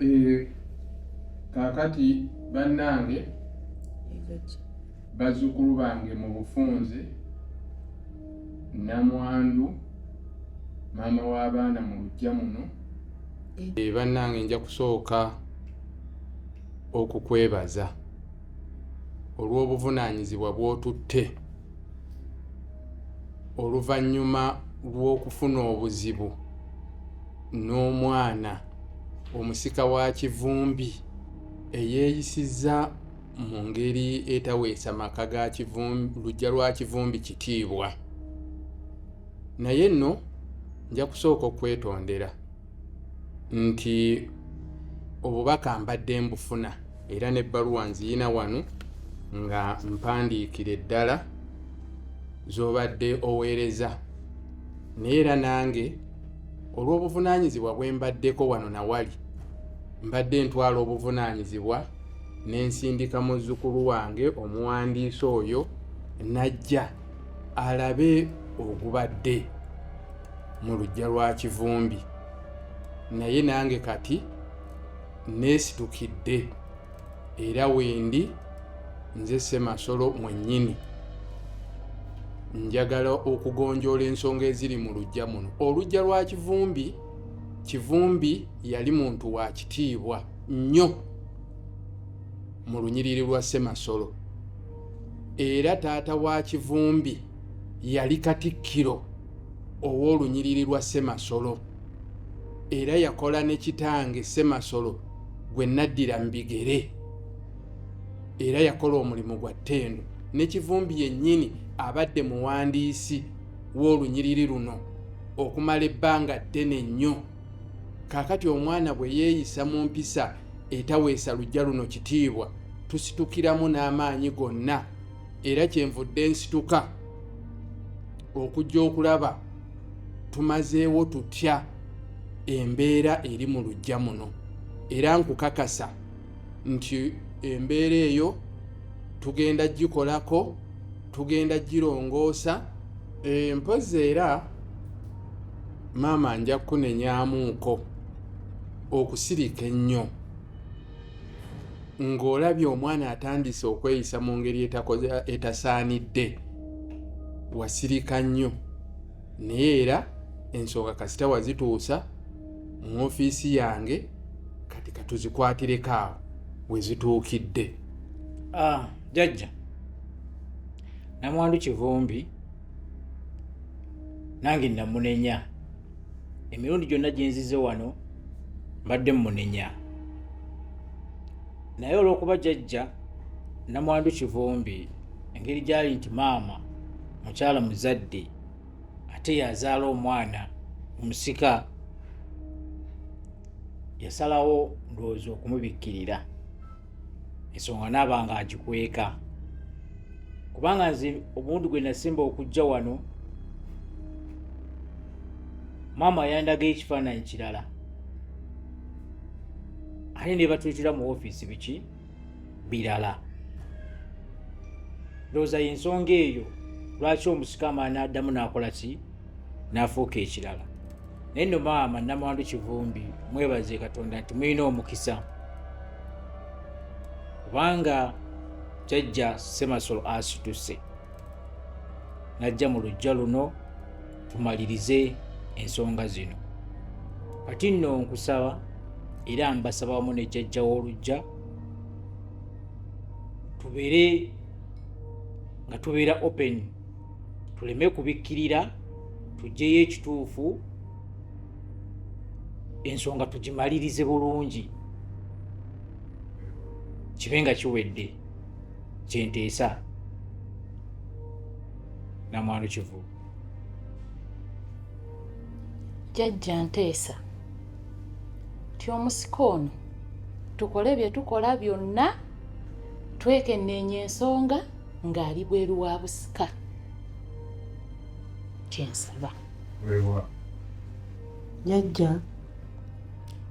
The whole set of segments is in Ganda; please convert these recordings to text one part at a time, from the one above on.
Eh, kaakati bannange bazzukulu bange mu bufunze namwandu maama w'abaana mu lujja muno eh. Eh, bannange nja kusooka okukwebaza olw'obuvunaanyizibwa bw'otutte oluvannyuma lw'okufuna obuzibu n'omwana omusika wa kivumbi eyeeyisizza mu ngeri etaweesa maka ga lujja lwa kivumbi kitiibwa naye nno nja kusooka okwetondera nti obubaka mbadde mbufuna era n'ebbaluwa nziyina wano nga mpandiikira eddala z'obadde oweereza naye era nange olw'obuvunaanyizibwa bwe mbaddeko wano na wali mbadde ntwala obuvunaanyizibwa ne nsindika muzzukulu wange omuwandiisi oyo n'ajja alabe ogubadde mu lujja lwa kivumbi naye nange kati nesitukidde era wendi nze semasolo mwennyini njagala okugonjoola ensonga eziri mu lujja muno olujja lwa kivumbi kivumbi yali muntu wa kitiibwa nnyo mu lunyiriri lwa semasolo era taata wa kivumbi yali katikkiro ow'olunyiriri lwa ssemasolo era yakola ne kitange ssemasolo gwe naddira mu bigere era yakola omulimu gwa ttendo ne kivumbi yennyini abadde muwandiisi w'olunyiriri luno okumala ebbanga ddene nnyo kaakati omwana bwe yeeyisa mu mpisa etaweesa lujja luno kitiibwa tusitukiramu n'amaanyi gonna era kyenvudde nsituka okujja okulaba tumazeewo tutya embeera eri mu lujja muno era nkukakasa nti embeera eyo tugenda gikolako tugenda girongoosa e, mpozi era maama nja kukunenyamuuko okusirika ennyo ng'olabye omwana atandise okweyisa mu ngeri etasaanidde wasirika nnyo naye era ensonga kasita wazituusa mu ofiisi yange kati katuzikwatireko awo wezituukidde ah, jajja namwandu kivumbi nange namunenya emirundi gyonna gyenzize wano mbadde mumunenya naye olwokuba jajja namwandu kivumbi engeri gyali nti maama mukyala muzadde ate yazaala omwana omusika yasalawo ndowooza okumubikkirira ensonga naaba nga agikweka kubanga nze obundi gwe nasimba okujja wano maama yandaga ekifaananyi kirala ate nebatuyitira mu ofiisi biki birala ndowooza yensonga eyo lwaki omusikama n'addamu n'akola ki n'afuuka ekirala naye no maama namwandu kivumbi mwebaze katonda nti mulina omukisa kubanga jajja semasolo asituse najja mu lujja luno tumalirize ensonga zino kati nno nkusaba era mbasaba wamu ne jjajja w'olujja tubeere nga tubeera open tuleme kubikkirira tugyeyo ekituufu ensonga tugimalirize bulungi kibe nga kiwedde kyenteesa namwano kivubu jajja nteesa nti omusika ono tukole bye tukola byonna twekenneenya ensonga ng'ali bweru wa busika kyensaba jajja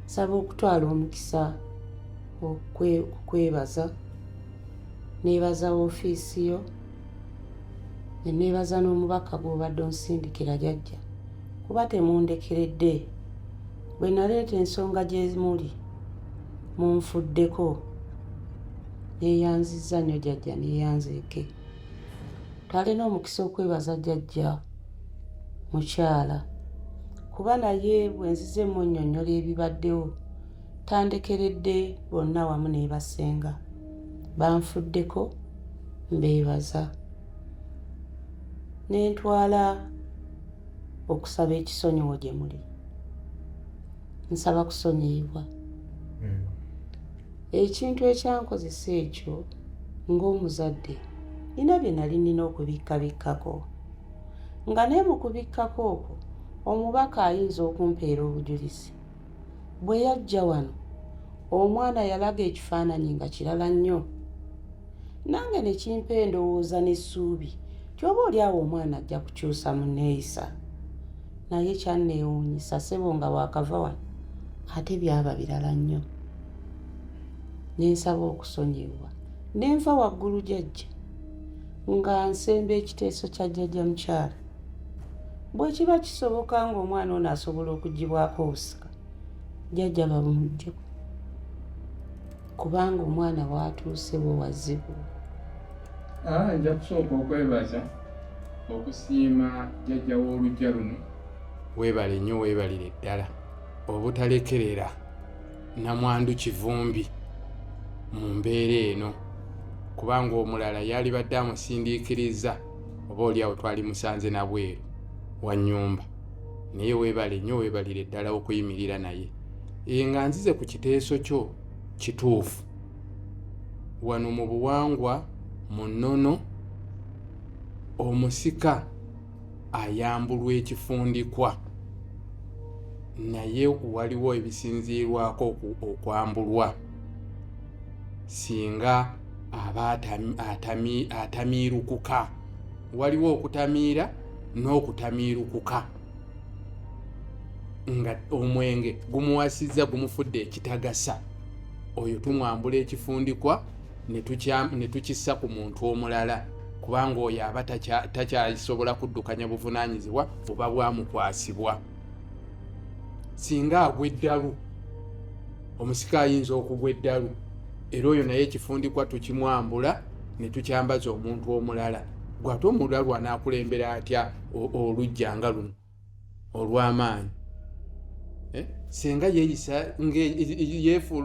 nsaba okutwala omukisa okwebaza nebaza ofiisi yo ne neebaza n'omubaka gw'obadde onsindikira jajja kuba temundekeredde bwe naleeta ensonga gye muli munfuddeko yeeyanzizza nnyo jajja neeyanzeeke twalina omukisa okwebaza jajja mukyala kuba naye bwe nzize munnyonnyola ebibaddewo tandekeredde bonna wamu neebasenga banfuddeko mbeebaza ne ntwala okusaba ekisonyiwo gye muli nsaba kusonyiyibwa hmm. ekintu ekyankozesa ekyo ng'omuzadde nina bye nali nina okubikkabikkako nga ne mu kubikkako okwo omubaka ayinza okumpeera obujulizi Bwe yajja wano omwana yalaga ekifaananyi nga kirala nnyo nange ne kimpa endowooza n'essuubi nti oba oli awo omwana ajja kukyusa mu nneeyisa naye kyanneewuunyisa ssebo nga waakava wano ate byaba birala nnyo ne nsaba okusonyiyibwa ne nva waggulu jajja nga nsemba ekiteeso kya jjajja mukyala bwe kiba kisoboka ng'omwana ono asobola okugibwako obusika jjajja bamuggyeko kubanga omwana waatuuse we wazibu ah, nja kusooka okwebaza okusiima jjajja w'olujja luno weebale nnyo weebalire ddala obutalekerera namwandu kivumbi mu mbeera eno kubanga omulala yalibadde amusindiikiriza oba oliawo twali musanze nabweru wa nyumba naye webale nyo webalire ddala okuyimirira naye e nga nzize ku kiteeso kyo kituufu wano mu buwangwa mu nnono omusika ayambulwa ekifundikwa naye waliwo ebisinziirwako okwambulwa singa aba atamiirukuka waliwo okutamiira n'okutamiirukuka nga omwenge gumuwasizza gumufudde ekitagasa oyo tumwambula ekifundikwa ne tukissa ku muntu omulala kubanga oyo aba takyasobola kuddukanya buvunaanyizibwa oba bwamukwasibwa singa agwa eddalu omusika ayinza okugwa eddalu era oyo naye ekifundikwa tukimwambula ne tukyambaza omuntu omulala gwate omulala lwanaakulembera atya olujja nga luno olw'amaanyi eh? senga yeeyisa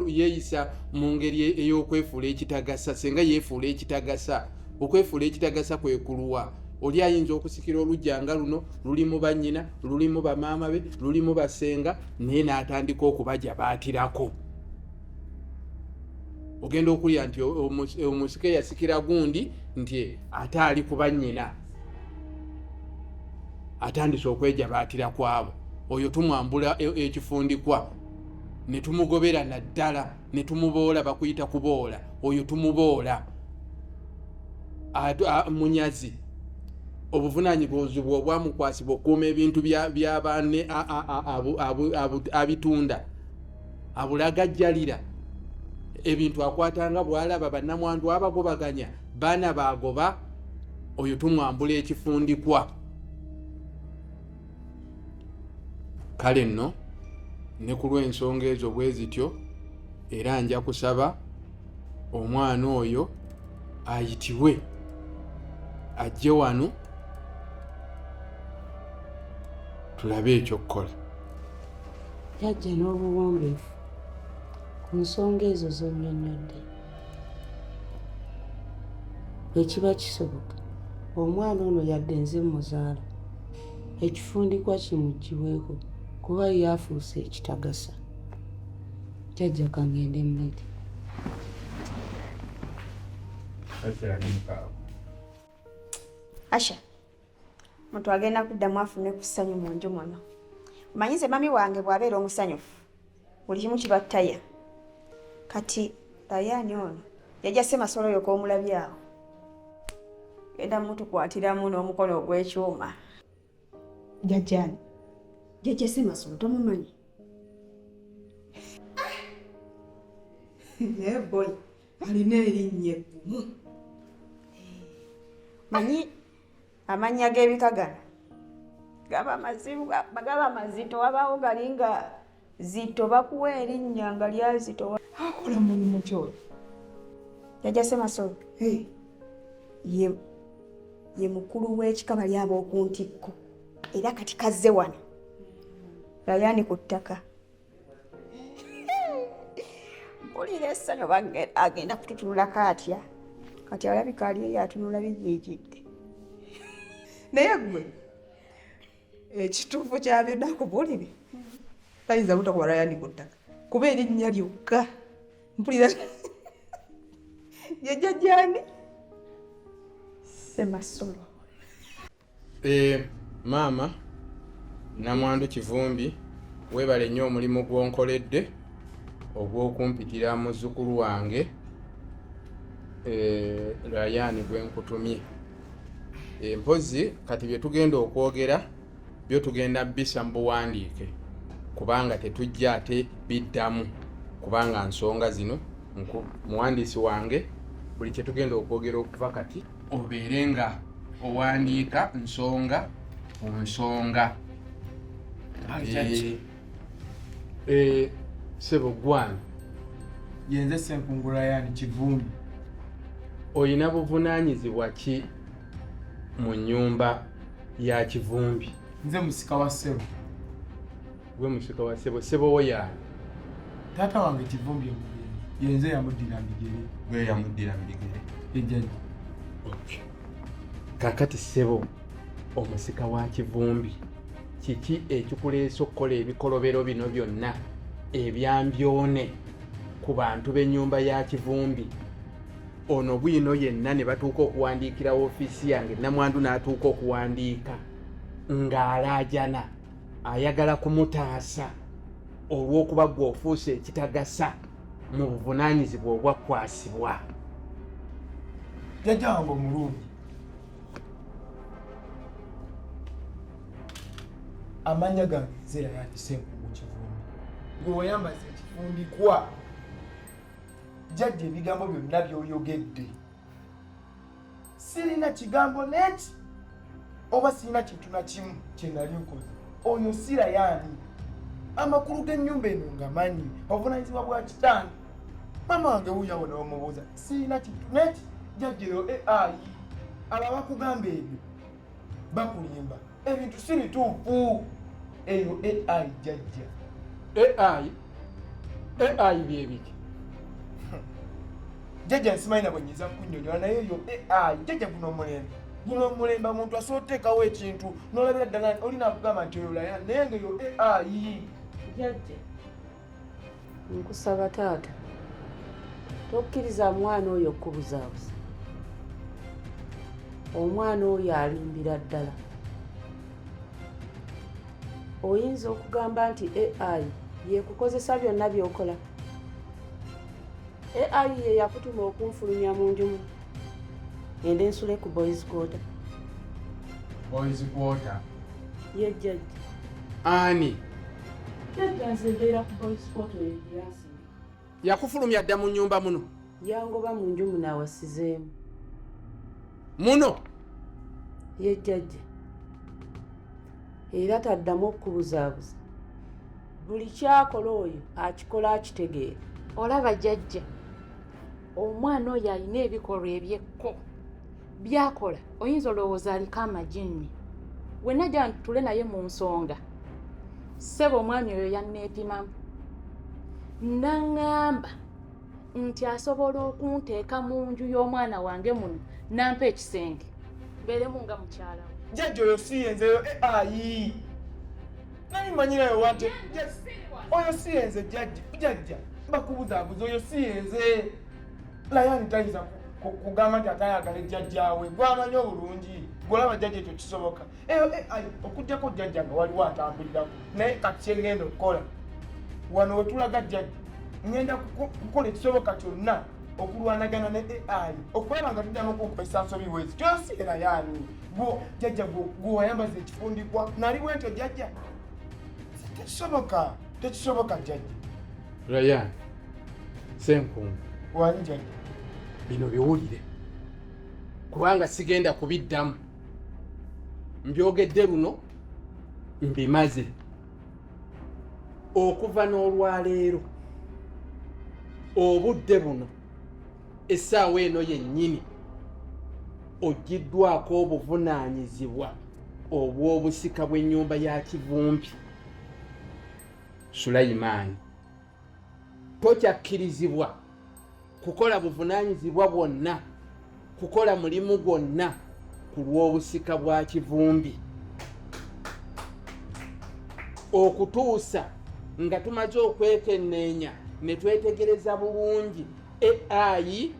yeeyisa mu ngeri ey'okwefuula ekitagasa senga yeefuula ekitagasa okwefuula ekitagasa kwe kuluwa oli ayinza okusikira olugya nga luno lulimu bannyina lulimu bamaama be lulimu basenga naye n'atandika okubaja baatirako ogenda okulya nti omusika eyasikira gundi nti ate ali kuba nyina atandise okwejabaatira kwabo oyo tumwambula e-, ekifundikwa ne tumugobera naddala ne tumuboola bakuyita kuboola oyo tumuboola munyazi obuvunanyibuzibwa obwamukwasibwa okukuuma ebintu byabaane abitunda abulagajjalira ebintu akwatanga bwalaba banamwandu abagobaganya baana bagoba oyo tumwambula ekifundikwa kale nno ne ku lw'ensonga ezo bwe zityo era nja kusaba omwana oyo ayitibwe ajje wano tulabe ekyokukola yajja n'obuwombeefu ku nsonga ezo zonyonyodde ekiba kisoboka omwana ono yadde nze muzaala ekifundikwa kimugiweeko kuba yafuuse ekitagasa jajja kangende mulete asha muntu agenda kuddamu afune ku ssanyu mu nju muno manyi nze mami wange bw'abeera omusanyufu buli kimu kiba ttaya kati tayaani ono yajja semasolo yoka omulabi awo genda mutukwatiramu n'omukono ogw'ekyuma jajjani jajja semasolo tomumanyi naye boy alina erinnya eggumu manyi amannya g'ebika gano gaba mazibu gaba mazito wabaawo gali nga zito bakuwa erinnya nga lyazito akola mulimu kyoyo jajja semasolo ye mukulu w'ekika bali ab'okuntikko era kati kazze wano yayani ku ttaka mpulira essanyu oba agenda kututunulako atya kati alabika ali eyo atunula biziikidde naye gwe ekituufu kya byonna kubulire tayinza butakuba rayani ku ttaka kuba erinnya lyokka mpulira yejajani semasolo Eh, maama Namwandu Kivumbi webale nnyo omulimu gw'onkoledde ogw'okumpitira muzzukulu wange eh, Rayani gwe nkutumye eh, mpozzi kati bye tugenda okwogera byo tugenda bisa mu buwandiike kubanga tetujja ate biddamu kubanga nsonga zino muwandiisi wange buli kye tugenda okwogera okuva kati obeere nga owandiika nsonga ku nsonga eh, eh, sebo gwani yenze senkungula yani kivumi olina buvunanyizibwa ki mu nyumba ya kivumbi nze musika wa sebo gwe musika wa sebo sebo wo yaani taata wange kivumbi omugere yenze yamuddira migere gwe yamuddira migere ejjaji kakati sebo omusika wa kivumbi kiki ekikuleesa okukola ebikolobero bino byonna ebyambyone ku bantu b'ennyumba ya kivumbi ono bwino yenna ne batuuka okuwandiikira ofiisi yange namwandu n'atuuka okuwandiika ng'alaajana ayagala kumutaasa olw'okuba gwe ofuuse ekitagasa mu buvunaanyizibwa obwakwasibwa jjajja wange omulungi amannya gange nzeera yandise mu kivumbi gwe wayambaza ekifumbikwa jjajja ebigambo byonna byoyogedde sirina kigambo neti oba sirina kintu na kimu kye nali nkoze oyo sira yaani amakulu g'ennyumba eno ngamanyi obuvunanyizibwa bwa kitange mama wange wuyawo newamubuuza sirina kintu neti jajjero eai eh, abo abakugamba ebyo bakulimba ebintu si bituufu eyo ai jajja ai ai byebiki jajja nsimanyi nabwe nyinza kunyonyola naye eyo ai jajja guno omulembe guno omulembe omuntu asobola oteekawo ekintu nolabira ddala olina kugamba nti oyolaya naye nga eyo ai jajja nkusaba taata tokkiriza mwana oyo okukubuzaabuza omwana oyo alimbira ddala oyinza okugamba nti ai yekukozesa byonna byokola ai ye yakutuma okunfulumya mu njumu ende nsule ku boys quarter boys quarter ye jjajja ani yakufulumya dda mu nyumba muno yangoba mu nju muno awasizeemu muno yejjajja era taddamu okukubuzaabuza buli kyakola oyo akikola akitegeera olaba jajja omwana oyo alina ebikolwa ebyekko byakola oyinza olowooza aliko amajinni wenna gya ntule naye mu nsonga ssebo omwami oyo yanneepimamu naŋŋamba nti asobola okunteeka mu nju y'omwana wange muno nampa ekisenge mbeeremu nga mukyala we jjajja oyo si yenzeyo eh, ayi naye manyirayo wante oyo si yenze jjajja jjajja mbakubuzabuza oyo si yenze layani tayinza kugamba nti atayagala ejjajjaawe gwamanyi obulungi golaba jjajja ekyo kisoboka eh, eh, okujjako jjajja nga waliwo atambulirako naye kati kyengenda okukola wano wetulaga jjajja ngenda kukola ekisoboka kyonna okulwanagana ne ai okulaba nga tuddamu okukozesa nsobi wezi kyosi era yani gwo jjajja gwewayambaza ekifundikwa nali bwentyo jjajja tekisoboka tekisoboka jjajja rayan senkungu wanja bino biwulire kubanga sigenda kubiddamu mbyogedde luno mbimaze okuva n'olwaleero obudde buno essaawa eno yennyini ogiddwako obuvunaanyizibwa obw'obusika bw'ennyumba ya kivumbi sulayimaani tokyakkirizibwa kukola buvunaanyizibwa bwonna kukola mulimu gwonna ku lw'obusika bwa kivumbi okutuusa nga tumaze okwekenneenya ne twetegereza bulungi ai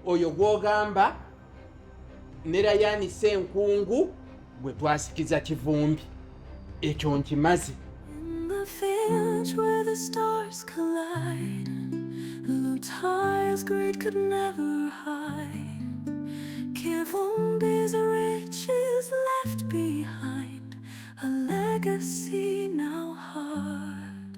oyo gw'ogamba ne Rayani Senkungu gwe twasikiza kivumbi ekyo nkimaze Ties greed could never hide. Kivumbi's riches left behind a legacy now hard.